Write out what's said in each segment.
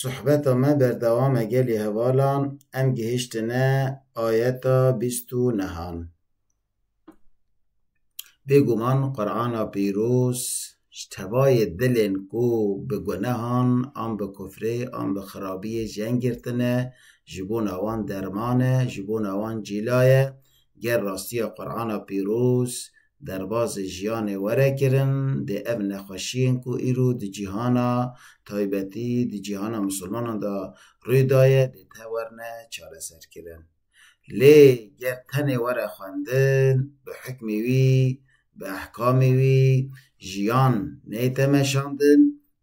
Sohbeta me berdewam e gelê hevalan, em gihiştine ayeta bîst û nehan. Bêguman Qur'ana pîroz ji tevayê dilên ku bi gunehan an bi kufrê an bi xirabiyê jeng girtine ji bona wan derman e, ji bona wan cîla ye, ger rastiya Qur'ana pîroz derbazê jiyanê were kirin dê ev nexweşiyên ku îro di cîhana taybetî di cîhana misilmanan de rûy daye dê tewerine çareserkirin. Lê ger tenê were xwendin bi hukmê wî, bi ehkamê wî jiyan neyte meşandin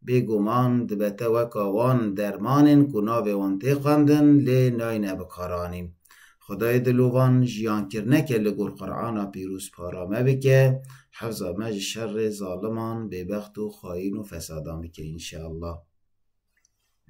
Bêguman dibe te weka wan dermanên ku navê wan tê xwendin lê nayne bikaranîn. Xwedayê dilovan jiyankirneke li gor Qur'ana pîroz para me bike, hefza me ji şerê zaliman, bêbext û xayîn û fesadan bike inşallah.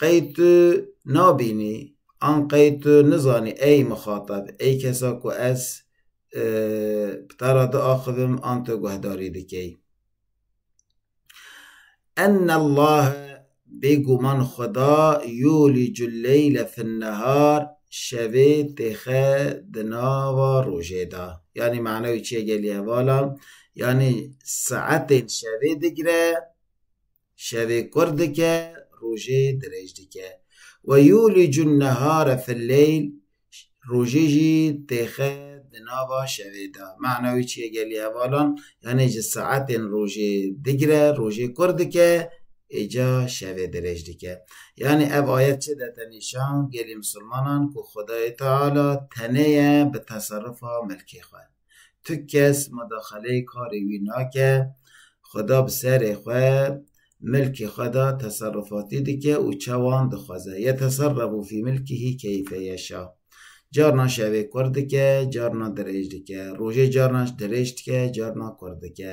qey tu nabînî an qey tu nizanî ey mixatab, ey kesa ku ez bi te re diaxivim an tu guhdarî dikî. Ennellahe bêguman Xweda yûlicul leyle finnehar şevê têxe di nava rojê de. Yanî mana wî çi ye gelî heval e? Yanî saetên şevê digire Şevê kurr dike, rojê dirêj dike. Ve yûlicû nehare fi leyl, rojê jî têxe di nava şevê de. Mana wî çi ye gelî hevalan? Yanî ji saetên rojê digre rojê kurr dike, êca şevê dirêj dike. Yanî ev ayet çi dete nîşan gelî misilmanan ku Xwedayê Teala tenê ye bi teserufa milkê xwe. Tu kes medaxeleyê karê wî nake, xweda bi serê xwe, milkê xwe de teserrufatî dike û çawan dixweze. Yeteserrefû fî milkihî keyfe yeşa. Carna şevê kur dike, carna dirêj dike. Rojê carna dirêj dike, carna kur dike.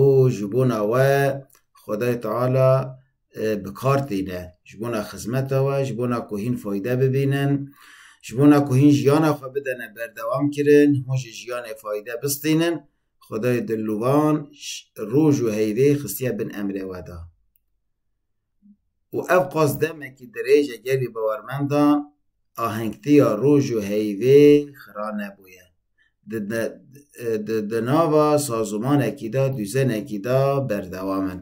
û ji bona we Xwedayê Teala bi kar tîne, ji bona xizmeta we, ji bona ku hîn fayde bibînin, ji bona ku hîn jiyana xwe bidene berdewamkirin, hûn ji jiyanê fayde bistînin, Xwedayê Dilnûvan roj û heyvê xistiye bin emrê we de. û ev qas demekî dirêj e gelî bawermendan ahengtiya roj û heyvê xira nebûye. Di di nava sazimanekî de, dûzenekî de berdewam in.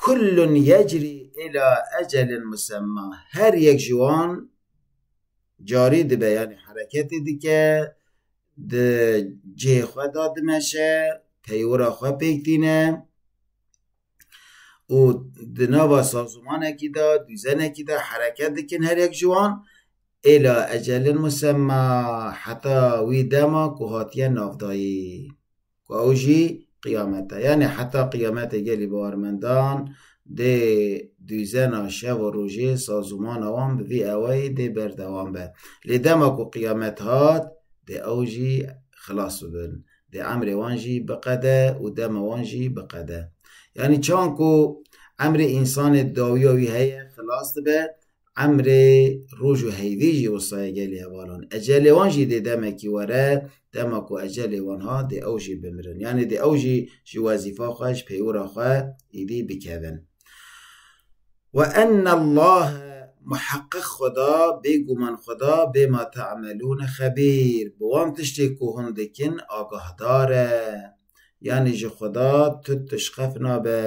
Kullun yecrî îlâ ecelin musemmâ. Her yek ji wan carî dibe yanî hereketê dike, di cihê xwe de dimeşe, peywira xwe pêk tîne. û di nava sazûmanekî de, dûzenekî de hereket dikin her yek ji wan, êla ecelin musemma heta wî dema ku hatiye navdayî ku ew jî qiyamet e. Yanî heta qiyametê gelî bawermendan dê dûzena şev û rojê sazûmana wan bi vî eweyî dê berdewam be. Lê dema ku qiyamet hat dê ew jî xilas bibin. Dê emrê wan jî biqede û dema wan jî biqede. Yanî çawan ku emrê însanê dawiya wî heye xilas dibe, emrê roj û heyvî jî wisa ye gelê hevalan. Ecelê wan jî dê demekî were, dema ku ecelê wan hat dê ew jî bimirin. Yanî dê ew jî ji wezîfa xwe, ji peywira xwe êdî bikevin. Wa enne Llahe muheqeq Xweda bêguman Xweda bêma te'melûne xebîr, bi wan tiştên ku hûn dikin agahdar e. Yanî ji Xweda tu tişqef nabe.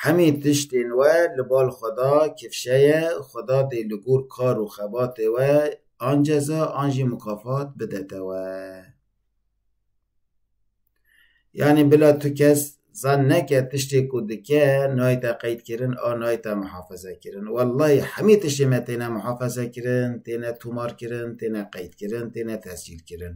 Hemî tiştên we li bal Xweda kifşe ye, Xweda dê li gor kar û xebatê we an ceza an jî mukafat bide te we. Yanî bila tu kes zan neke tiştê ku dike nayê te qeydkirin a nayê te mihafezekirin. Wellahî hemî tiştê me têne mihafezekirin, têne tûmarkirin, têne qeydkirin, têne tescîlkirin.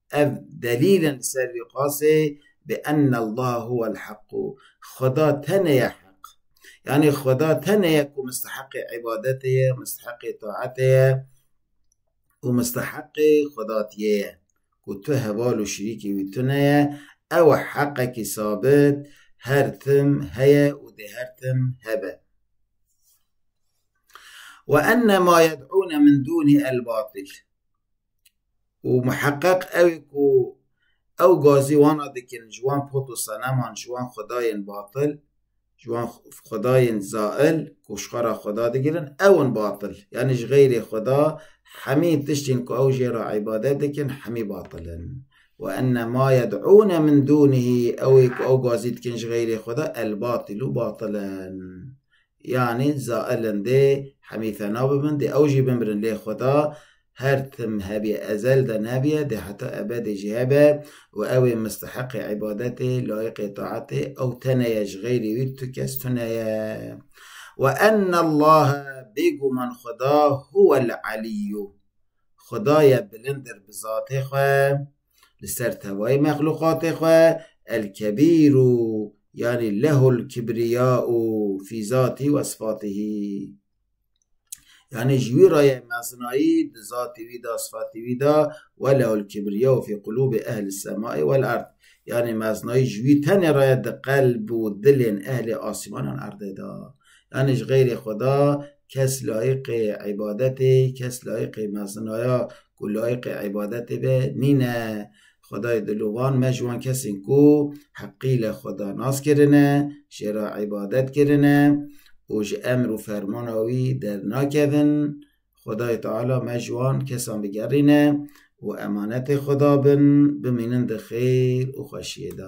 ev delîl in li ser vî qasê bi enne Allah huwel heqû Xweda tenê ye heq. Yanî Xweda tenê ye ku misteheqê îbadetê ye, misteheqê taetê ye û misteheqê xwedatiyê ye ku tu heval û şirîkê wî tune ye, ew e heqekî sabit her tim heye û dê her tim hebe. Wa enne ma yed'ûne min dûnî el-batîl. û miheqeq ew ê ku ew gazî wana dikin ji wan pot û seneman, ji wan xwedayên batil, ji wan xwedayên zail ku ji xwe re xweda digirin ew in batil. Yanî ji xeyrê xweda hemî tiştên ku ew jê re îbadet dikin hemî batil in. Wa enne ma yed'ûne min dûnihî ew ê ku ew gazî dikin ji xeyrê xweda elbatilû batil in. Yanî zailin dê hemî fena bibin, dê ew jî bimirin lê Xweda her tim hebîye, ezel de nebîye, dê heta ebedê jî hebe û ew ê misteheqê îbadetê, layiqê taetê, ew tenê ye, ji xeyrê wî tu kes tune ye. We enne Llahe, bêguman Xweda, huwel alîyyu, Xweda ye bilindir bi zatê xwe. li ser tevayê mexluqatê xwe El-Kebîr û yanî Lehul Kibriya û fî zatî we sifatihî. Yanî ji wî re ye mezinayî di zatî wî de, sifatî wî de we Lehul Kibriya û fî qulûbê Ehli Semayê wel Erd. Yanî mezinayî ji wî tenê re ye di qelb û dilên Ehlê Asîman an Erdê de. Yanî ji xeyrê Xweda kes layiqê îbadetê, kes layiqê mezinaya ku layiqê îbadetê be nîne. Xwedayê dilovan me ji wan kesên ku heqî li Xweda nas kirine, jê re îbadet kirine û ji emr û fermana wî dernakevin, Xwedayê Teala me ji wan kesan bigerîne û emanetê Xweda bin, bimînin di xêr û xweşiyê de.